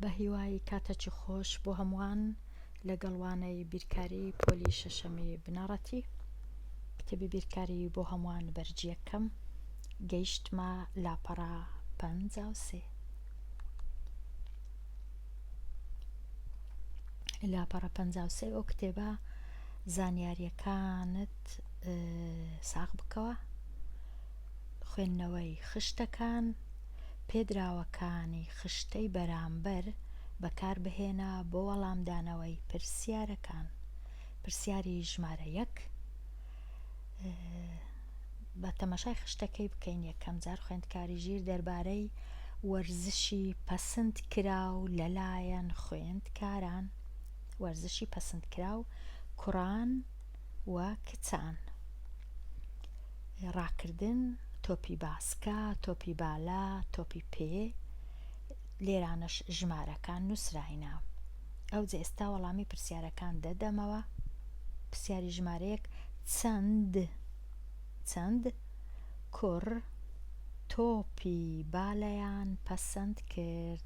بەهیوای کاتەکی خۆش بۆ هەمووان لەگەڵ وانەی بیرکاری پۆلی شەشەمی بنەڕەتی کتێبی بیرکاری بۆ هەمووان بەرجیەکەم گەیشتمە لاپەڕە پەنج و سێ لاپەڕە پەنج و سێ ئەو کتێبە زانیاریەکانت ساغ بکەوە خوێندنەوەی خشتەکان، پێدراوەکانی خشتەی بەرامبەر بەکاربهێنە بۆ وەڵامدانەوەی پرسیارەکان، پرسیاری ژمارە یەک با تەماشای خشتەکەی بکەین یەکەم جار خوێندکاری ژیر دەربارەی وەرزشی پەسند کراو لەلایەن خوێندکاران وەرزشی پەسند کراو کوڕان و کچان، ڕاکردن، تۆپی باسکە، تۆپی بالە، تۆپی پێ، لێرانەش ژمارەکان نووسراینە. ئەوجە ئێستا وەڵامی پرسیارەکان دەدەمەوە. پرسیاری ژمارەیەک چەند چەند کوڕ تۆپی بالەیان پەسەند کرد؟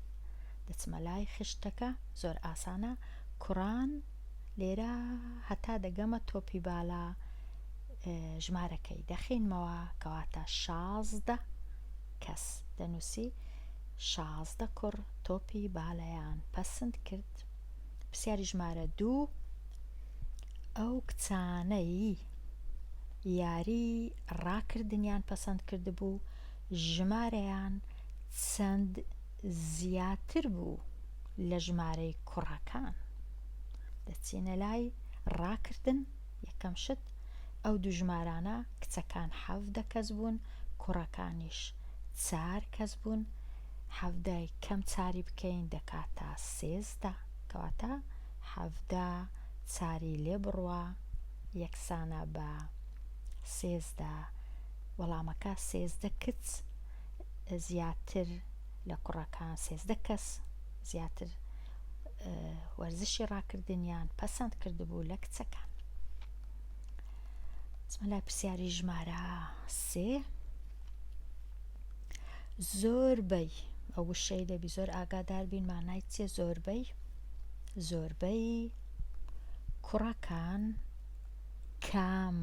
دەچمە لای خشتەکە، زۆر ئاسانە، کوڕان لێرە هەتا دەگەمە تۆپی بالا ژمارەکەی دەخینمەوە کەواتە شازدە کەس دەنووسی شازدە کوڕ تۆپی بالەیان پەسند کرد پرسیاری ژمارە دوو ئەو کچانەی یاری ڕاکردنیان پەسەند کردبوو ژمارەیان چەند زیاتر بوو لە ژمارەی کوڕەکان دەچینە لای ڕاکردن یەکەم شت ئەو دوو ژمارانە کچەکان حەڤدە کەس بوون کوڕەکانیش چار کەس بوون حەڤدای کەم چاری بکەین دەکاتە سێزدە کەواتە حەڤدە چاری لێ بڕوا یەکسانە بە سێزدە وەڵامەکە سێزدە کچ زیاتر لە کوڕەکان سێزدە کەس زیاتر وەرزشی ڕاکردنیان پەسەند کردبوو لە کچەکان لای پرسیاری ژمارە سێ زۆربەی ئەو وشەی دەبی زۆر ئاگادار بین مانای چێ زۆربەی زۆربەی کوڕەکان کام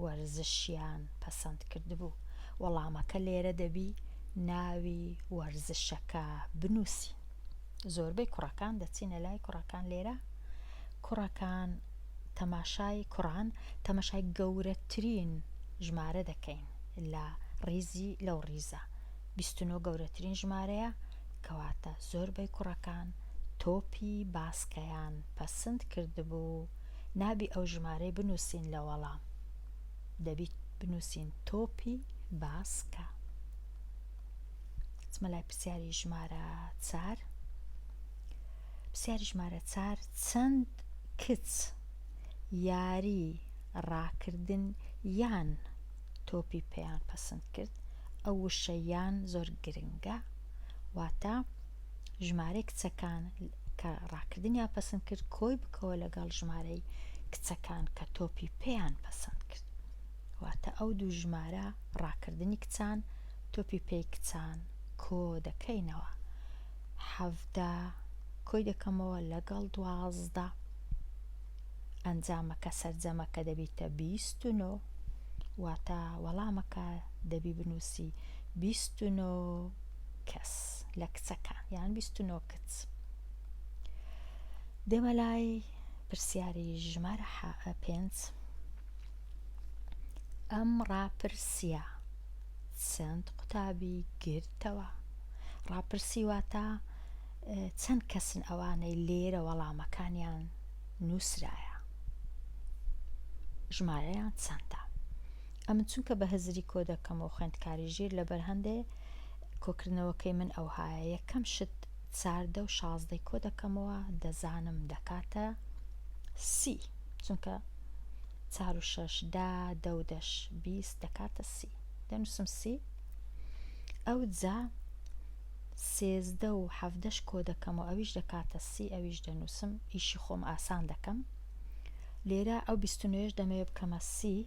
وەرزشیان پەسەند کردبوو؟ وەڵامەکە لێرە دەبی ناوی وەرزشەکە بنووسین. زۆربەی کوڕەکان دەچینە لای کوڕەکان لێرە کوڕەکان تەماشای کوڕان تەماشای گەورەترین ژمارە دەکەین لە ڕیزی لەو ڕیزە 29 گەورەترین ژمارەیە کەواتە زۆربەی کوڕەکان تۆپی باسکەیان پەسند کردبوو نابی ئەو ژمارەی بنوسین لە وەڵام دەبی بنوسین تۆپی باسکە چمە لای پرسیاری ژمارە چار پرسیاری ژمارە چار چەند کچ یاری ڕاکردن یان تۆپی پێیان پەسند کرد ئەو وشە یان زۆر گرنگە واتە ژمارەی کچەکان کە ڕاکردنیان پەسند کرد کۆی بکەوە لەگەڵ ژمارەی کچەکان کە تۆپی پێیان پەسند کرد واتە ئەو دوو ژمارە ڕاکردنی کچان تۆپی پێی کچان کۆ دەکەینەوە حەڤدە کۆی دەکەمەوە لەگەڵ دوازدە ئەنجامەکە سەرجەمەکە دەبیتە بیست و نۆ واتە وەڵامەکە دەبی بنووسی بیست و نۆ کەس لە کچەکان یان بیست و نۆ کچ دێمە لای پرسیاری ژمارە حە پێنج ئەم ڕاپرسیە چەند قوتابی گرتەوە ڕاپرسی واتە چەند کەسن ئەوانەی لێرە وەڵامەکانیان نووسرایە ژمارەیان چەندە ئەمن چونکە بە هزری کۆ دەکەم و خوێندکاری ژیر لە بەر هەندێ کۆکردنەوەکەی من ئەوهایە یەکەم شت چار دە و شازدەی کۆ دەکەمەوە دەزانم دەکاتە سی چونکە چار و شەش دا دە و دەش بیست دەکاتە سی دەنووسم سی ئەو جا سێزدە و حەفدەش کۆ دەکەم و ئەویش دەکاتە سی ئەویش دەنووسم ئیشی خۆم ئاسان دەکەم لێرە ئەو بیست و نۆیەش دەمەوێ بکەمە سی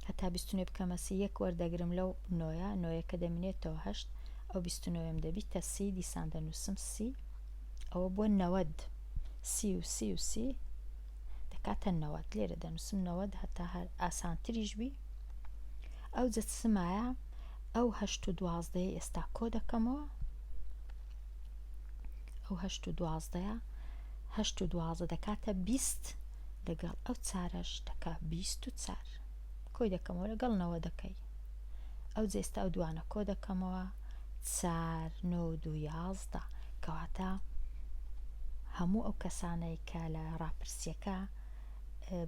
هەتا بیست و نۆی بکەمە سی یەک وەردەگرم لەو نۆیە نۆیەکە دەمینێتەوە هەشت ئەو بیست و نۆیەم دەبیتە سی دیسان دەنووسم سی ئەوە بۆ نەوەد سی و سی و سی دەکاتە نەوەد لێرە دەنووسم نەوەد هەتا هەر ئاسانتریش بی ئەو جەتسمایە ئەو هەشت و دوازدەیە ئێستا کۆ دەکەمەوە ئەو هەشت و دوازدەیە هەشت و دوازدە دەکاتە بیست لەگەڵ ئەو چارەش دەکا بیست و چار کۆی دەکەمەوە لەگەڵ نەوە دەکەی ئەو جێستا ئەو دوانە کۆ دەکەمەوە چار نۆ دو یازدە کەواتە هەموو ئەو کەسانەی کە لە ڕاپرسیەکە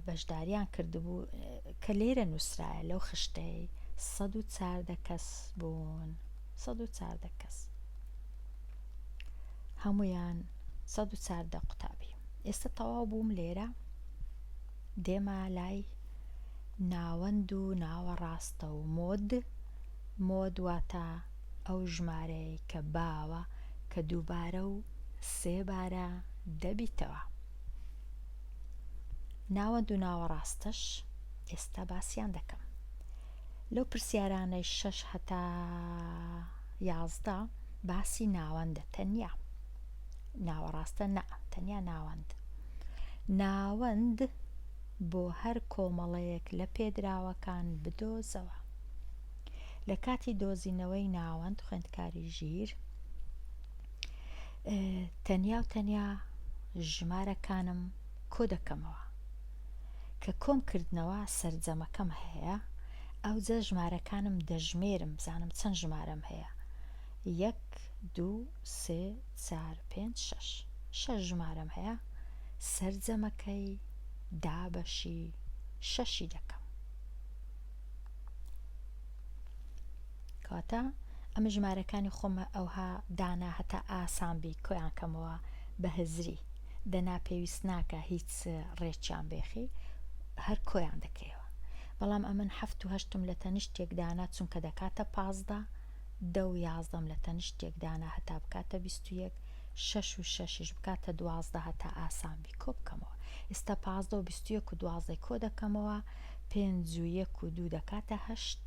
بەشداریان کردبوو کە لێرە نووسرایە لەو خشتەی سەد و چاردە کەس بوون. سەد و چاردە کەس هەمویان سەد و چاردە قوتابی ئێستا تەواو بووم لێرە دێما لای ناوەند و ناوەڕاستە و مۆد مۆد واتە ئەو ژمارەیە کە باوە کە دووبارە و سێبارە دەبیتەوە ناوەند و ناوەڕاستەش ئێستا باسیان دەکەم لەو پرسیارانەی شەش هەتا یازدە باسی ناوەندە تەنیا ناوەڕاستە نە تەنیا ناوەند ناوەند بۆ هەر کۆمەڵەیەک لە پێدراوەکان بدۆزەوە لە کاتی دۆزینەوەی ناوەند خوێندکاری ژیر تەنیا و تەنیا ژمارەکانم کۆ دەکەمەوە کە کۆم کردنەوە سەرجەمەکەم هەیە ئەوجا ژمارەکانم دەژمێرم بزانم چەند ژمارەم هەیە یەک دوو سێ چار پێنج شەش شەش ژمارەم هەیە سەرجەمەکەی دابەشی شەشی دەکەم کەواتە ئەمە ژمارەکانی خۆمە ئەوها دانا هەتا ئاسان بی کۆیان کەمەوە بە هزری دەنا پێویست ناکا هیچ ڕێکیان بێخی هەر کۆیان دەکەیەوە بەڵام ئەمن حەفت و هەشتم لە تەنیشتێک دانا چونکە دەکاتە پازدە دە و یازدەم لە تەنیشتێک دانا هەتا بکاتە بیست و یەک شەش و شەشیش بکاتە دوازدە هەتا ئاسان بی کۆ بکەمەوە ئێستا پازدە و بیست و یەک و دوازدەی کۆ دەکەمەوە پێنج و یەک و دوو دەکاتە هەشت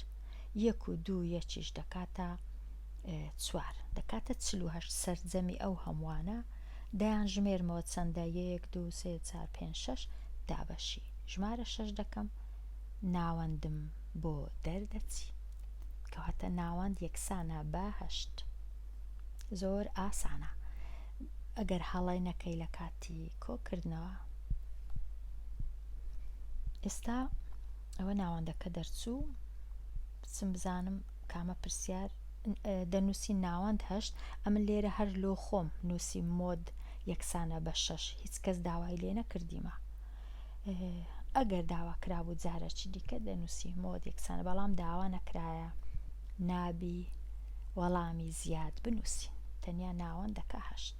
یەک و دوو یەکیش دەکاتە چوار دەکاتە چل و هەشت سەرجەمی ئەو هەمووانە دەیان ژمێرمەوە چەندە یەک دوو سێ چار پێنج شەش دابەشی ژمارە شەش دەکەم ناوەندم بۆ دەردەچی کەواتە ناوەند یەکسانە بە هەشت زۆر ئاسانە ئەگەر هەڵەی نەکەی لە کاتی کۆکردنەوە ئێستا ئەوە ناوەندەکە دەرچوو بچم بزانم کامە پرسیار دەنووسی ناوەند هەشت ئەمن لێرە هەر لۆ خۆم نووسی مۆد یەکسانە بە شەش هیچ کەس داوای لێ نەکردیمە ئەگەر داوا کرابوو جارە چی دیکە دەنووسی مۆد یەکسانە بەڵام داوا نەکرایە نابی وەڵامی زیاد بنووسی تەنیا ناوەندەکە هەشت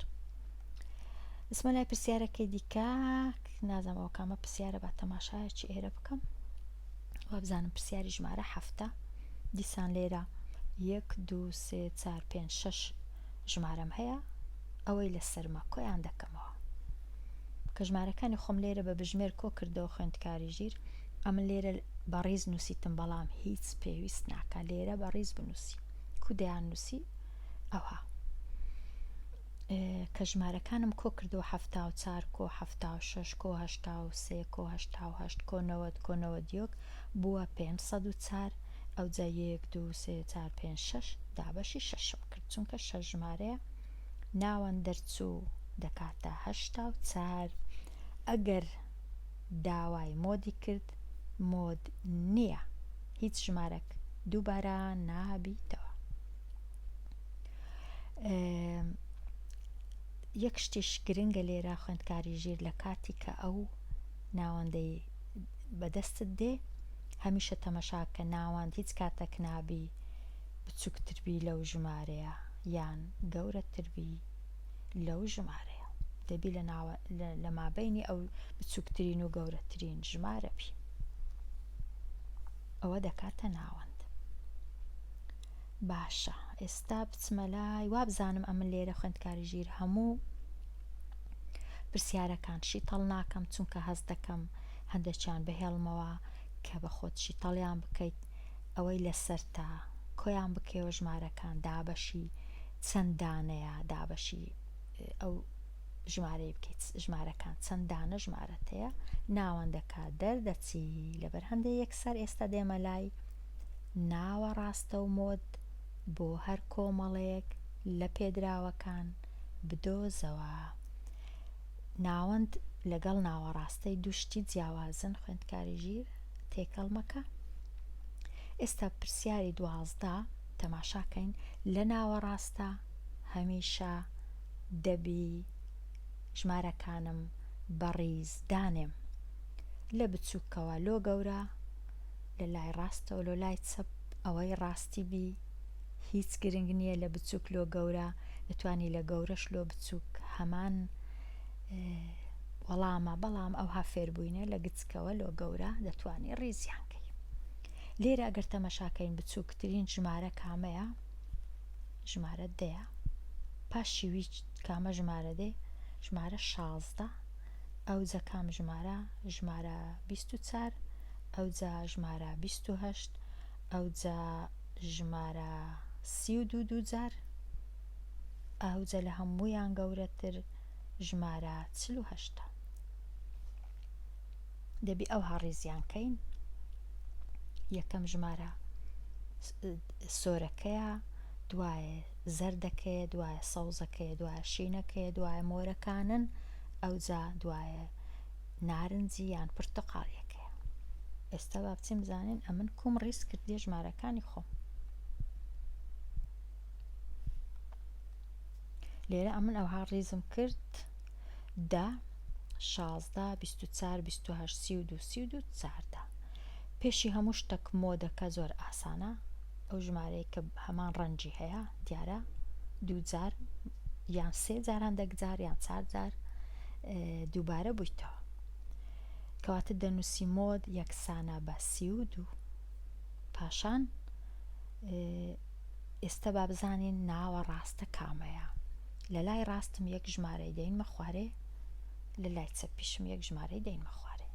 اسمە لای پرسیارەکەی دیکە نازەمەوە کامە پرسیارە بە تەماشایەکی ئێرە بکەم وابزانم پرسیاری ژمارە حەفتە دیسان لێرە یەک دو سێ چار پێنج شەش ژمارەم هەیە ئەوەی لە سەرمە کۆیان دەکەمەوە کە ژمارەکانی خۆم لێرە بە بژمێر کۆ کردەوە خوێندکاری ژیر ئەمن لێرە بەڕیز نووسیتم بەڵام هیچ پێویست ناکە لێرە بەڕیز بنووسی کودیان نووسی ئەوها کە ژمارەکانم کۆ کردوە حەفتا و چار کۆ حەفتا و شەش کۆ هەشتا و سێ کۆ هەشتا و هەشت کۆ نەوەد کۆ نەوەد یۆک بوە پێنج سەد و چار ئەوجا یەک دو سێ چار پێنج شەش دابەشی شەشم کرد چونکە شەش ژمارەیە ناوەند دەرچو دەکاتە هەشتا و چار ئەگەر داوای مۆدی کرد مۆد نیە هیچ ژمارەک دوبارە نابیتەوە. یەک شتیش گرنگە لێرە خوێندکاری ژیر لە کاتی کە ئەو ناوەندەی بەدەستت دێ هەمیشە تەمەشاکە ناوەند هیچ کاتەک نابی بچووکتربی لەو ژمارەیە یان گەورەتربی لەو ژمارەیە دەبی لە ناوە لە مابینی ئەو بچووکترین و گەورەترین ژمارە بی ئەوە دەکاتە ناوەند باشە ئێستا بچمە لای وابزانم ئەمن لێرە خوێندکاری ژیر هەموو پرسیارەکان شیتەڵ ناکەم چونکە هەست دەکەم هەندێکیان بهێڵمەوە کە بە خۆت شیتەڵیان بکەیت ئەوەی لەسەرتا کۆیان بکەوە ژمارەکان دابەشی چەند دانەیە دابەشی ئەو ژمارەی بکەیت ژمارەکان چەند دانە ژمارەتەیە ناوەندەکە دەردەچی لەبەر هەندێک یەکسەر ئێستا دێمە لای ناوە ڕاستە و مۆد بۆ هەر کۆمەڵەیەک لە پێدراوەکان بدۆزەوە. ناوەند لەگەڵ ناوەڕاستەی دوو شتی جیاوازن خوێندکاری ژیر تێکەڵ مەکە. ئێستا پرسیاری دوازدە تەماشاکەین لە ناوەڕاستە هەمیشە دەبی ژمارەکانم بە ڕیز دانێم لە بچووکەوە لۆ گەورە لە لای ڕاستەوە لۆ لای چەپ ئەوەی ڕاستی بی هیچ گرنگ نیە لە بچوک لۆ گەورە ئەتوانی لە گەورەش لۆ بچوک هەمان وەڵامە بەڵام ئەوها فێربوینە لە گچکەوە لۆ گەورە دەتوانی ڕیزیان کەی لێرە گەر تەمەشاکەین بچوکترین ژمارە کامەیە ژمارە دەیە پاشیوی کامە ژمارە دێ ژمارە شازدە ئەوجە کام ژمارە ژمارە بیست و چار ئەوجا ژمارە بیست و هەشت ئەوجا ژمارە سی و دوو دووجار ئەوجە لە هەموویان گەورەتر ژمارە چل و هەشتە دەبی ئەو هاڕیزیان کەین یەکەم ژمارە سۆرەکەیە دوایە زەردەکەیە دوایە سەوزەکەیە دوایە شینەکەیە دوایە مۆرەکانن ئەوجا دوایە نارنجی یان پرتەقاڵیەکەیە ئێستا با بچین بزانین ئەمن کوم ڕیز کردێ ژمارەکانی خۆم لێرە ئەمن ئەوها ڕیزم کرد دا شازدە بیست و چار بیست و هەشت سی و دوو سی و دوو چاردە پێشی هەموو شتەک مۆدەکە زۆر ئاسانە ئەو ژمارەیە کە هەمان ڕەنجی هەیە دیارە دووجار یان سێ جار هەندێک جار یان چار جار دووبارە بوویتەوە کەواتە دەنووسی مۆد یەکسانە بە سی و دوو پاشان ئێستا با بزانین ناوە ڕاستە کامەیە لە لای ڕاستم یەک ژمارەی دەینمە خوارێ لە لای چەپیشم یەک ژمارەی دەینمە خوارێ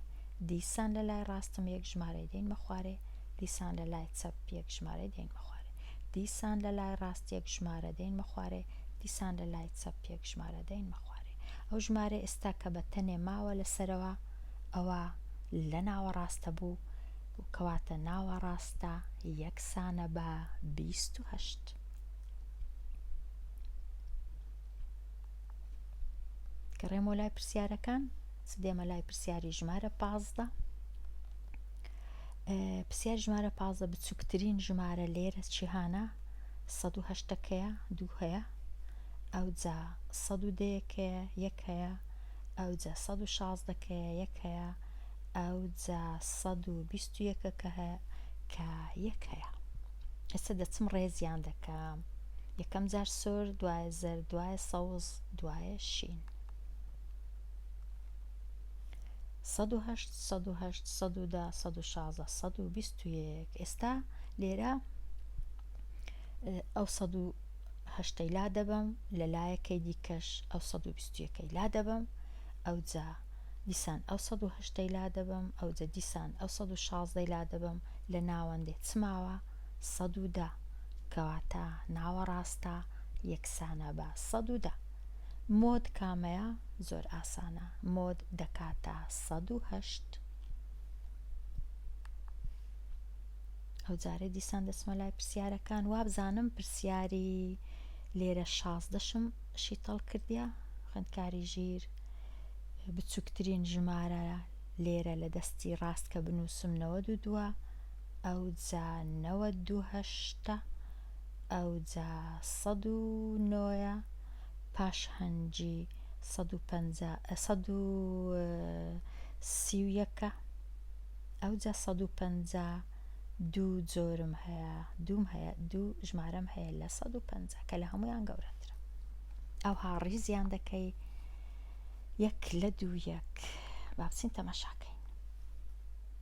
دیسان لە لای ڕاستم یەک ژمارەی دەینمە خوارێ دیسان لە لای چەپ یەک ژمارەی دەینمە خوارێ دیسان لە لای ڕاست یەک ژمارە دەینمە خوارێ دیسان لە لای چەپ یەک ژمارە دەینمە خوارێ ئەو ژمارە ئێستا کە بە تەنێ ماوە لە سەرەوە ئەوە لە ناوەڕاستە بوو کەواتە ناوەڕاستە یەکسانە بە بیست و هەشت کە ڕێمۆ لای پرسیارەکان سدێمە لای پرسیاری ژمارە پازدە پرسیاری ژمارە پازدە بچووکترین ژمارە لێرە چیهانە سەد و هەشتەکەیە دوو هەیە ئەوجا سەد و دەیەکەیە یەک هەیە ئەوجا سەد و شازدەکەیە یەک هەیە ئەوجا سەد و بیست و یەکەکە هەیە کە یەک هەیە ئێستا دەچم ڕێزیان دەکەم یەکەم جار سۆر دوایە زەر دوایە سەوز دوایە شین سەد و هەشت سەد و هەشت سەد و دە سەد و شازە سەد و بیست و یەک ئێستا لێرە ئەو سەد و هەشتەی لا دەبم لە لایەکەی دیکەش ئەو سەد و بیست یەکەی لا دەبم ئەو جا دیسان ئەو سەد و هەشتەی لا دەبم ئەو جە دیسان ئەو سەد و شازدەی لا دەبم لە ناوەندێ چماوە سەد و دە کەواتە ناوە ڕاستە یەکسانە بە سەد و دە مۆد کامەیە زۆر ئاسانە مۆد دەکاتە سەد و هەشت ئەوجارە دیسان دەچمە لای پرسیارەکان وابزانم پرسیاری لێرە شازدەشم شیتەڵ کردە خوێندکاری ژیر بچووکترین ژمارە لێرە لە دەستی ڕاست کە بنووسم نەوە دوو دووە ئەو جا نەوە دووهشتا ئەوجا سەد و نۆیە پاش هەنجی سەد و پەنجا سەد و سی و یەکە ئەوجا سەد و پەنجا دوو جۆرم هەیە دووم هەیە دوو ژمارەم هەیە لە سەد و پەنجا کە لە هەمویان گەورەترە ئەوها ڕیزیان دەکەی یەک لە دوو یەک با بچین تەماشاکەین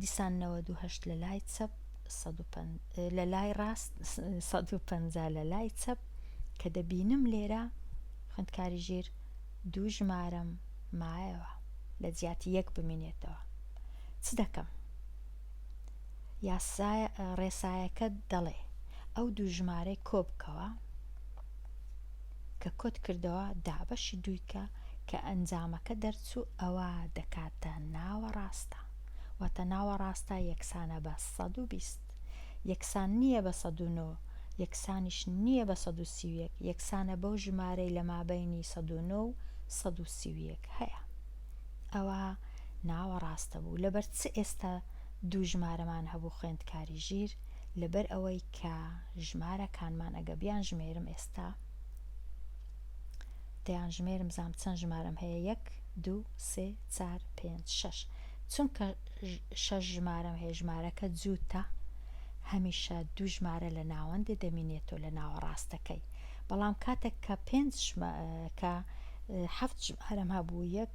دیسان نەوەد و هەشت لە لای چەپ سەد و پەن... لە لای ڕاست سەد و پەنجا لە لای چەپ کە دەبینم لێرە خوێندکاری ژیر دوو ژمارەم مایەوە لە جیاتی یەک بمینێتەوە چ دەکەم یاسای ڕێسایەکە دەڵێ ئەو دوو ژمارەی کۆ بکەوە کە کۆت کردەوە دابەشی دووی کە کە ئەنجامەکە دەرچوو ئەوا دەکاتە ناوەڕاستە واتە ناوەڕاستە یەکسانە بە سەد و بیست یەکسان نییە بە سەد و نۆ یەکسانیش نییە بە سەد و سی و یەک یەکسانە بەو ژمارەی لە مابەینی سەد و نۆ و سەد و سی و یەک هەیە ئەوا ناوەڕاستە بوو لەبەر چ ئێستا دوو ژمارەمان هەبوو خوێندکاری ژیر لەبەر ئەوەی کە ژمارە کانمان ئەگە بیان ژمێرم ئێستا دەیان ژمێرم زام چەند ژمارەم هەیە یەک دوو سێ چار پێنج شەش چونکە شەش ژمارەم هەیە ژمارەکە جووتە هەمیشە دوو ژمارە لە ناوەندێ دەمینێتەوە لە ناوە ڕاستەکەی بەڵام کاتێک کە پێنج کە هەفت ژمارەم هەبوو یەک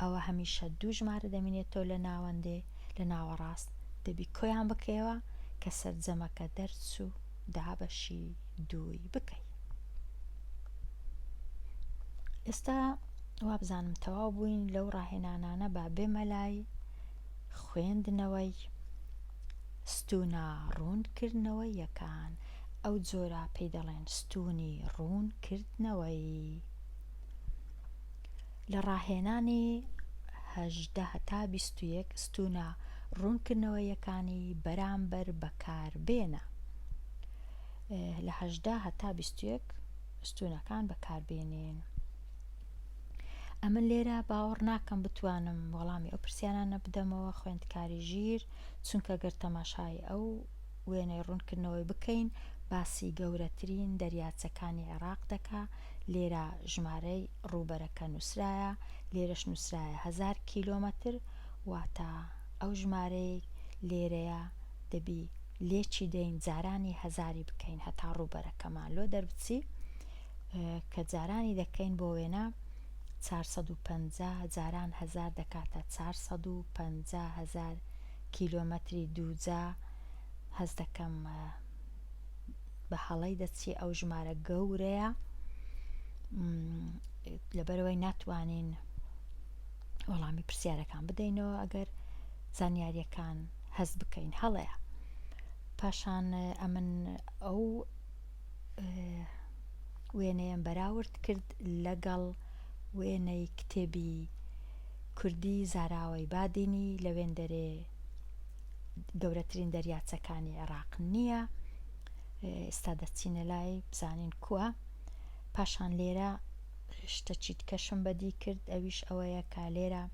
ئەوە هەمیشە دوو ژمارە دەمینێتەوە لە ناوەندێ لە ناوەڕاست دەبی کۆیان بکەیەوە کە سەرجەمەکە دەرچو دابەشی دووی بکەی. ئێستا وابزانم تەواو بووین لەو ڕاهێنانانە با بێمە لای خوێندنەوەی ستونا ڕوونکردنەوە یەکان ئەو جۆرە پێی دەڵێن ستونی ڕوونکردنەوەی. لە ڕاهێنانی هەژدە هەتا بیست و یەک ستوونە ڕوونکردنەوەییەکانی بەرامبەر بەکاربێنە لە هەژدە هەتا بیست و یەک ستوونەکان بەکاربێنین. ئەمن لێرە باوەڕ ناکەم بتوانم وەڵامی ئەو پرسیارانە بدەمەوە خوێندکاری ژیر چونکە گەر تەماشای ئەو وێنەی ڕوونکردنەوەی بکەین باسی گەورەترین دەریاچەکانی عێراق دەکا لێرە ژمارەی ڕووبەرەکە نووسرایە لێرەش نووسرایە هەزار کیلۆمەتر واتە ئەو ژمارەی لێرەیە دەبی لێکی دەین جارانی هەزاری بکەین هەتا ڕووبەرەکەمان لۆ دەربچی کە جارانی دەکەین بۆ وێنە 450 جاران هزار دەکاتە 450 هزار کیلۆمەتری دووجا هەست دەکەم بە هەڵەی دەچی ئەو ژمارە گەورەیە لەبەرەوەی ناتوانین وەڵامی پرسیارەکان بدەینەوە ئەگەر زانیاریەکان هەست بکەین هەڵەیە پاشان ئەمن ئەو وێنەیەم بەراورد کرد لەگەڵ وێنەی کتێبی کوردی زاراوەی بادینی لە وێندەرێ گەورەترین دەریاچەکانی عێراق نییە ئێستا دەچینە لای بزانین کووە پاشان لێرە شتە چیتکەشم بەدی کرد ئەویش ئەوەیە کا لێرە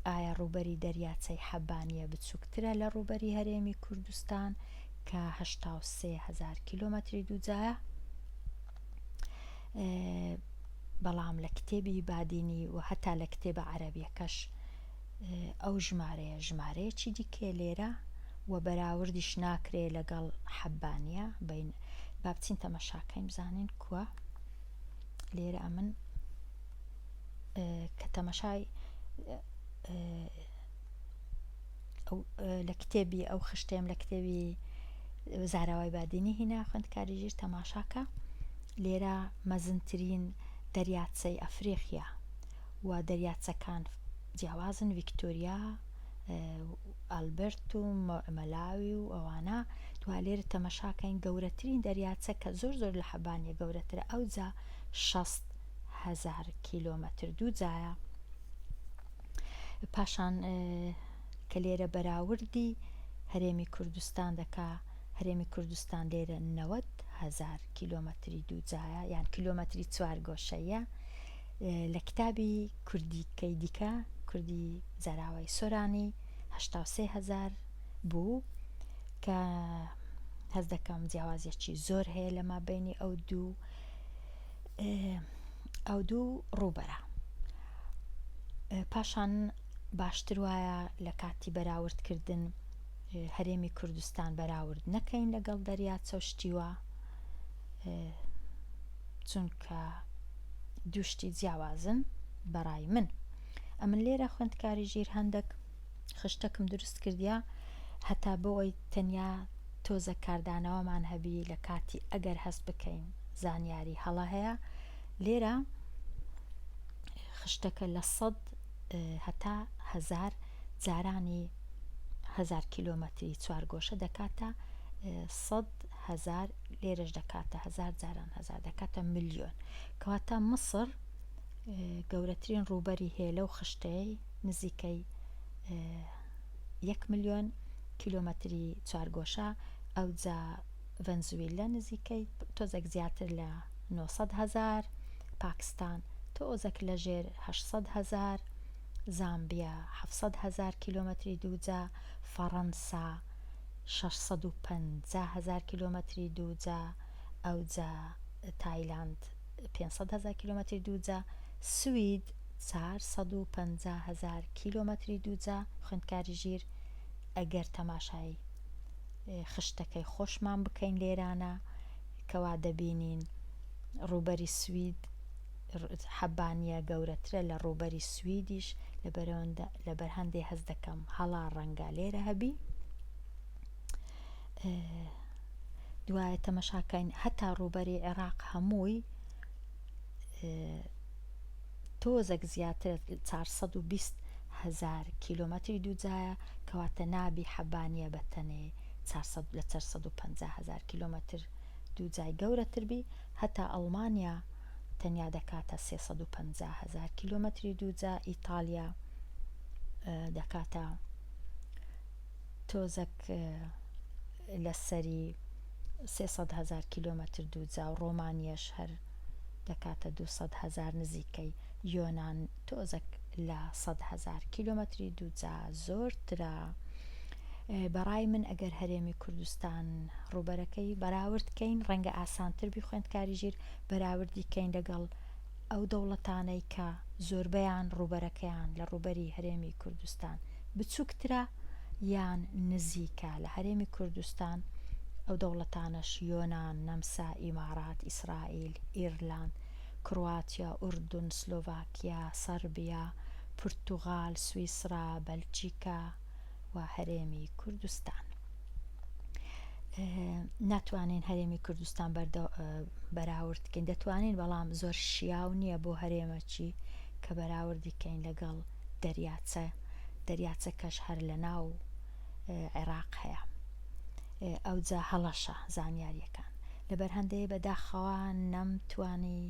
ئایا ڕوبەری دەریاچەی حەبانە بچووکترە لە ڕوبەری هەرێمی کوردستان کە هزار کیلومتری دووجایە بەڵام لە کتێبی بادینی و هەتا لە کتێبە عەربیەکەش ئەو ژمارەیە ژمارەیەکی دیکەیە لێرە و بەراوردیش ناکرێ لەگەڵ حەبانە بین بابچین تەمەشاکەین بزانین کووە لێرە ئەمن کە تەمەشای لە کتێبی ئەو خشتێم لە کتێبی زاراوای بادینی هینا خوندکاری ژیر تەماشاکە لێرە مەزنترین دەریاچەی ئەفریقیا و دەریاچەکان جیاوازن ڤیکتۆریا و ئەلبەرت و مەلاوی و ئەوانە دوا لێرە تەمەشاکەین گەورەترین دەریاچە کە زۆر زۆر لە حەبانیە گەورەترە ئەوجا شەست هەزار کیلۆمەتر دوو جایە پاشان کە لێرە بەراوردی هەرێمی کوردستان دەکا هەرێمی کوردستان لێرە نەوەد هەزار کیلۆمەتری دوو جایە یان کیلۆمەتری چوار گۆشەیە لە کتابی کوردیکەی دیکە، کوردی زاراوەی سۆرانی، هەشتا و سێ هەزار بوو، کە هەست دەکەم جیاوازیەکی زۆر هەیە لە مابینی ئەو دوو ئەو دوو ڕووبەرە پاشان باشتر وایە لە کاتی بەراوردکردن هەرێمی کوردستان بەراورد نەکەین لەگەڵ دەریا چەشتیوە چونکە دوو شتی جیاوازن بەڕای من ئەمن لێرە خوێندکاری ژیر هەندێک خشتەکم دروست کردیا هەتا بۆی تەنیا تۆزە کاردانەوەمان هەبی لە کاتی ئەگەر هەست بکەین زانیاری هەڵە هەیە لێرە خشتەکە لە سەد هەتا هزار جارانی هزار کیلومتری چوار گۆشە دەکاتە سەد هەزار لێرەش دەکاتە هەزار جاران هەزار دەکاتە ملیۆن کەواتە مصر گەورەترین ڕووبەری هەیە لەو خشتەی نزیکەی یەک ملیۆن کیلۆمەتری چوارگۆشە ئەوجا ڤەنزویلە نزیکەی تۆزێک زیاتر لە 900 هزار پاکستان تۆزەک لە ژێر 600 هزار زامبیا 700 هزار کیلۆمەتری دووجا فەڕەنسا شەش سەد و پەنجا هەزار کیلۆمەتری دووجا ئەوجا تایلاند پێنج سەد هەزار کیلۆمەتری دووجا سوید چار سەد و پەنجا هەزار کیلۆمەتری دووجا خوێندکاری ژیر ئەگەر تەماشای خشتەکەی خۆشمان بکەین لێرانە کەوا دەبینین ڕووبەری سوید حەبانیە گەورەترە لە ڕووبەری سویدیش لەبەر هەندێ هەست دەکەم هەڵا ڕەنگە لێرە هەبی دوایە تەمەشاکەین هەتا ڕووبەری عێراق هەمووی تۆزەک زیاتر 420 هزار کیلومتری دووجایە کەواتە نابی حەبانیە بە تەنێ لە 450 هزار کیلومتر دووجای گەورەتر بی هەتا ئەڵمانیا تەنیا دەکاتە سێ سەد و پەنجا هەزار کیلۆمەتری دووجا ئیتاڵیا دەکاتە تۆزەک لە سەری سێ سەد هەزار کیلۆمەتر دووجا و ڕۆمانیەش هەر دەکاتە دوو سەد هەزار نزیکەی یۆنان تۆزەک لە سەد هەزار کیلۆمەتری دووجا زۆرترە بەڕای من ئەگەر هەرێمی کوردستان ڕووبەرەکەی بەراورد کەین ڕەنگە ئاسانتر بی خوێندکاری ژیر بەراوردی کەین لەگەڵ ئەو دەوڵەتانەی کە زۆربەیان ڕووبەرەکەیان لە ڕووبەری هەرێمی کوردستان بچووکترە یان نزیکە لە هەرێمی کوردستان ئەو دەوڵەتانەش یۆنان، نەمسا، ئیمارات، ئیسرائیل، ئیرلاند، کرواتیا، ئوردن، سلۆڤاکیا، سەربیا، پورتوغال، سویسرا، بەلجیکا. و هەرێمی کوردستان ناتوانین هەرێمی کوردستان بەراوردکەین دەتوانین بەڵام زۆر شیاو نییە بۆ هەرێمەچی کە بەراوردیکەین لەگەڵ دەریاچە دەریاچە کەش هەر لە ناو عێراق هەیە ئەوجا هەڵەشە زانیاریەکان لەبەر هەندەی بەداخەوە نەمتوانی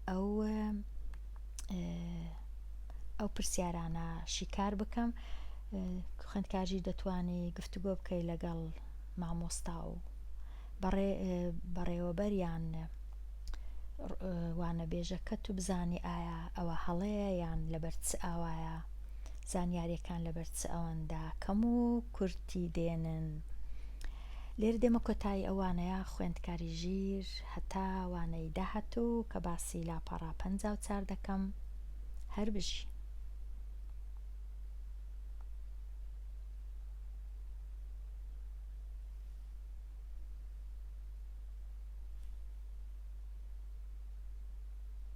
ئەو ئەو پرسیارانە شیکار بکەم خوندکارژیر دەتوانی گفتوگۆ بکەی لەگەڵ مامۆستا و بەڕێوەبەریان وانە بێژەکە تو بزانی ئایا ئەوە هەڵەیە یان لەبەر چ ئاوایە زانیاریەکان لەبەر چ ئەوەندا کەم و کورتی دێنن لێرە دێمە کۆتایی ئەو وانەیە خوێندکاری ژیر هەتا وانەی داهاتوو کە باسی لاپەڕە پەنجا و چار دەکەم هەر بژی.